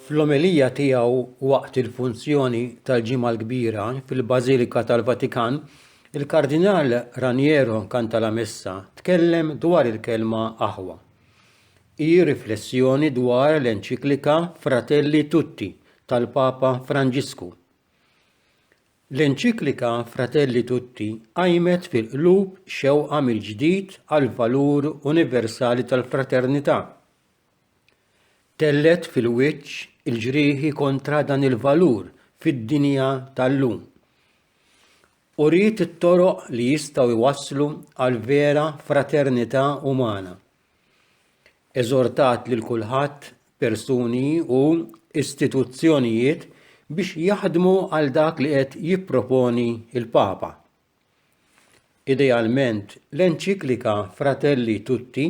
Fl-omelija tiegħu waqt il-funzjoni tal-Ġimgħa l-Kbira fil-Bażilika tal-Vatikan, il-Kardinal Raniero Cantalamessa tkellem dwar il-kelma aħwa. Hi riflessjoni dwar l-enċiklika Fratelli Tutti tal-Papa Franġisku. L-enċiklika Fratelli Tutti qajmet fil-qlub xewqa mill-ġdid għall-valur universali tal-fraternità. Tellgħet fil-wiċċ il-ġrieħi kontra dan il-valur fid-dinja tal-lum. Uriet it-toroq li jistgħu jwasslu għal vera fraternità umana. Eżortat lil kulħadd, persuni u istituzzjonijiet biex jaħdmu għal dak li qed jipproponi l-Papa. Idealment, l-enċiklika Fratelli Tutti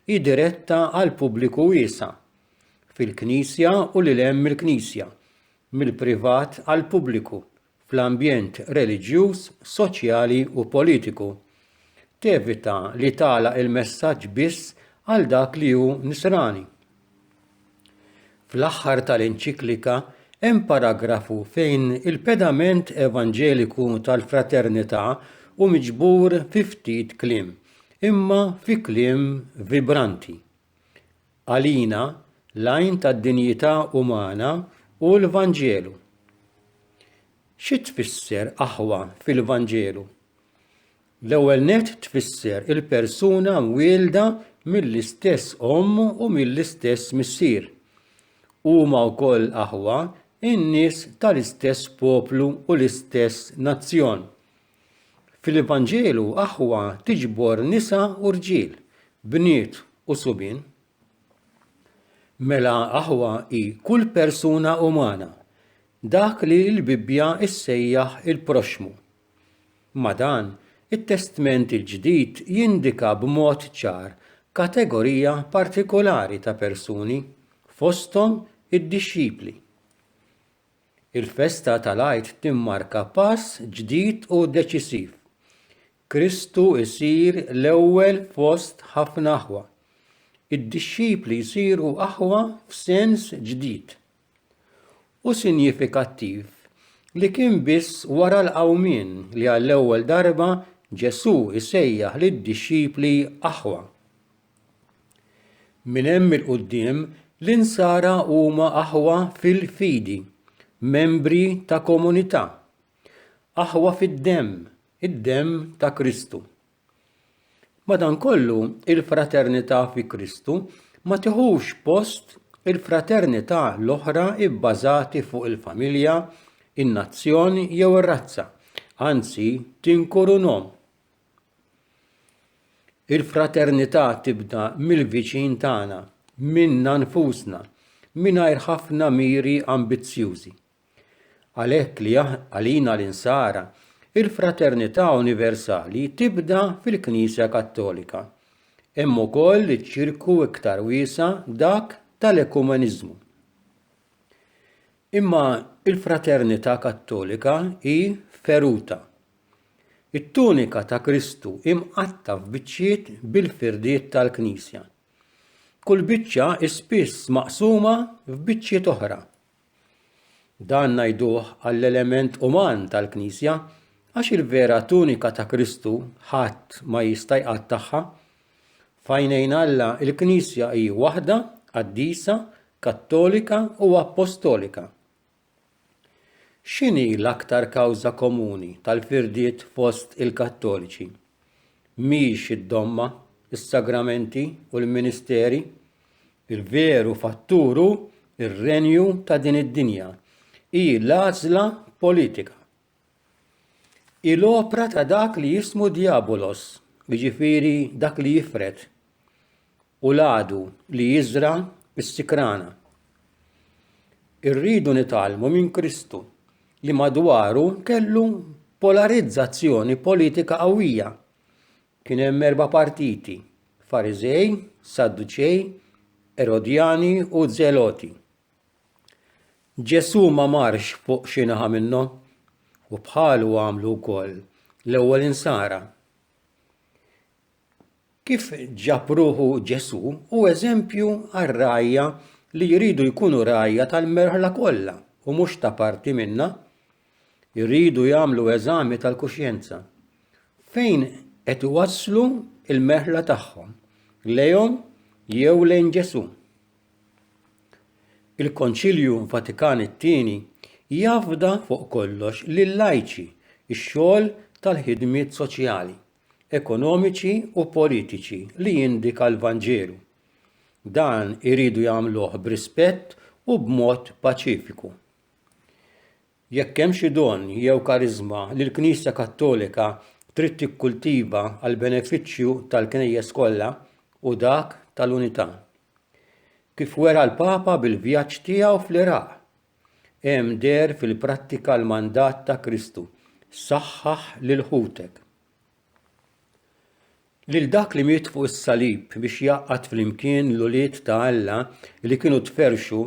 hi diretta għal pubbliku wiesa' fil-Knisja u lil hemm mill-Knisja, mill-privat għall-pubbliku fl-ambjent reliġjuż, soċjali u politiku. Tevita li tagħlaq il-messaġġ biss għal dak li hu Nisrani. Fl-aħħar tal-enċiklika hemm paragrafu fejn il-pedament evanġeliku tal-fraternità hu miġbur fi ftit kliem, imma fi kliem vibranti. Għalina, l-għajn tad-dinjità umana hu l-Vanġelu. Xi tfisser aħwa fil-Vanġelu? L-ewwel nett tfisser il-persuna mwielda mill-istess omm u mill-istess missier. Huma wkoll aħwa in-nies tal-istess poplu u l-istess nazzjon. Fil-Vanġelu aħwa tiġbor nisa u rġiel, bniet u subien. Mela aħwa hi kull persuna umana, dak li l-Bibbja ssejjaħ il-proxxmu. Ma' dan, it-Testment il-Ġdid jindika b'mod ċar kategorija partikolari ta' persuni, fosthom id-dixxipli. Il-festa tal-Għid timmarka pass ġdid u deċisiv. Kristu jsir l-ewwel fost ħafna aħwa. Id-dixxipli jsiru aħwa f'sens ġdid u sinjifikattiv li kien biss wara l-qawmien li għall-ewwel darba Ġesù jsejjaħ lid-dixxipli aħwa. Minn hemm 'il quddiem l-Insara huma aħwa fil-fidi, membri ta' komunità, aħwa fid-demm, id-demm ta' Kristu. Madankollu, il-fraternità fi Kristu ma tiħux post il-fraternità l-oħra bbażati fuq il-familja, in-nazzjon jew ir-razza, anzi tinkurunhom. Il-fraternità tibda mill-viċin tagħna, minna nfusna, mingħajr ħafna miri ambizzjużi. Għalhekk li għalina l-Insara, il-fraternità universali tibda fil-Knisja Kattolika. Hemm ukoll iċ-ċirku iktar wiesa' dak tal-ekumeniżmu. Imma il-fraternità Kattolika hi feruta, It-tunika ta' Kristu hi mqatta' f'biċċiet bil-firdiet tal-Knisja. Kull biċċa hi spiss maqsuma f'biċċiet oħra. Dan ngħiduh għall-element uman tal-Knisja għax il-vera tunika ta' Kristu ħadd ma jista' jqattagħha. Fajnejn Alla il-Knisja hi waħda, qaddisa, kattolika u appostolika. X'inhi l-aktar kawża komuni tal-firdiet fost il-Kattoliċi? Mhix id-domma, is-sagramenti u l-ministeri? Il-veru fattur hu r-renju ta' din id-dinja. Hi l-għażla politika. Hi l-opra ta' dak li jismu Diabolos, jiġifieri dak li jifred, u l-għadu li jiżra s-sikrana. Irridu nitalmu minn Kristu li madwaru kellu polarizzazzjoni politika qawwija. Kien hemm erba' partiti, Fariżej, Sadduċej, Erodjani u Zeloti. Ġesù ma marx fuq xi naħa minnhom u bħalu għamlu wkoll l-ewwel insara. Kif ġabruħu Ġesù u eżempju għar-rgħajja li jridu jkunu rgħajja tal-merħla kollha u mhux ta' parti minnha, jridu jagħmlu eżami tal-kuxjenza. Fejn qed iwasslu l-merħla tagħhom? Lejhom jew lejn Ġesù? Il-Konċilju Vatikan it-Tieni jafda fuq kollox lil-lajċi x-xogħol tal-ħidmiet soċjali, ekonomiċi u politiċi li jindika l-Vanġelu. Dan iridu jagħmluh b'rispett u b'mod paċifiku. Jekk hemm xi don jew kariżma li l-Knisja Kattolika trid tikkultiva għall-benefiċċju tal-Knejjes kollha, hu dak tal-unità. Kif wera l-Papa bil-vjaġġ tiegħu fl-Iraq, hemm deher fil-prattika l-mandat ta' Kristu, Saħħaħ lil ħutek. Lil dak li miet fuq is-salib biex jgħaqqad flimkien l-ulied ta' Alla li kienu tferrxu,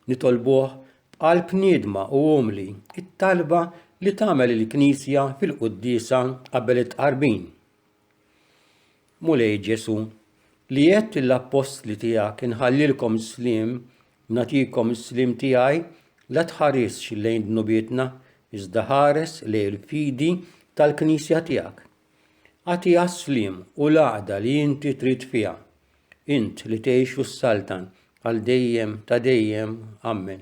nitolbuh b'qalb niedma u umli, it-talba li tagħmel il-Knisja fil-Quddiesa qabel it-Tqarbin. Mulej Ġesù, li għedt lill-Appostli tiegħek inħallilkom sliem Nagħtikom is-sliem tiegħi, la tħarisx lejn dnubietna, iżda ħares lejn il-fidi tal-Knisja tiegħek. Agħtiha s-sliem u l-għaqda li inti trid fiha. Int li tgħix u ssaltan għal dejjem ta' dejjem. Ammen.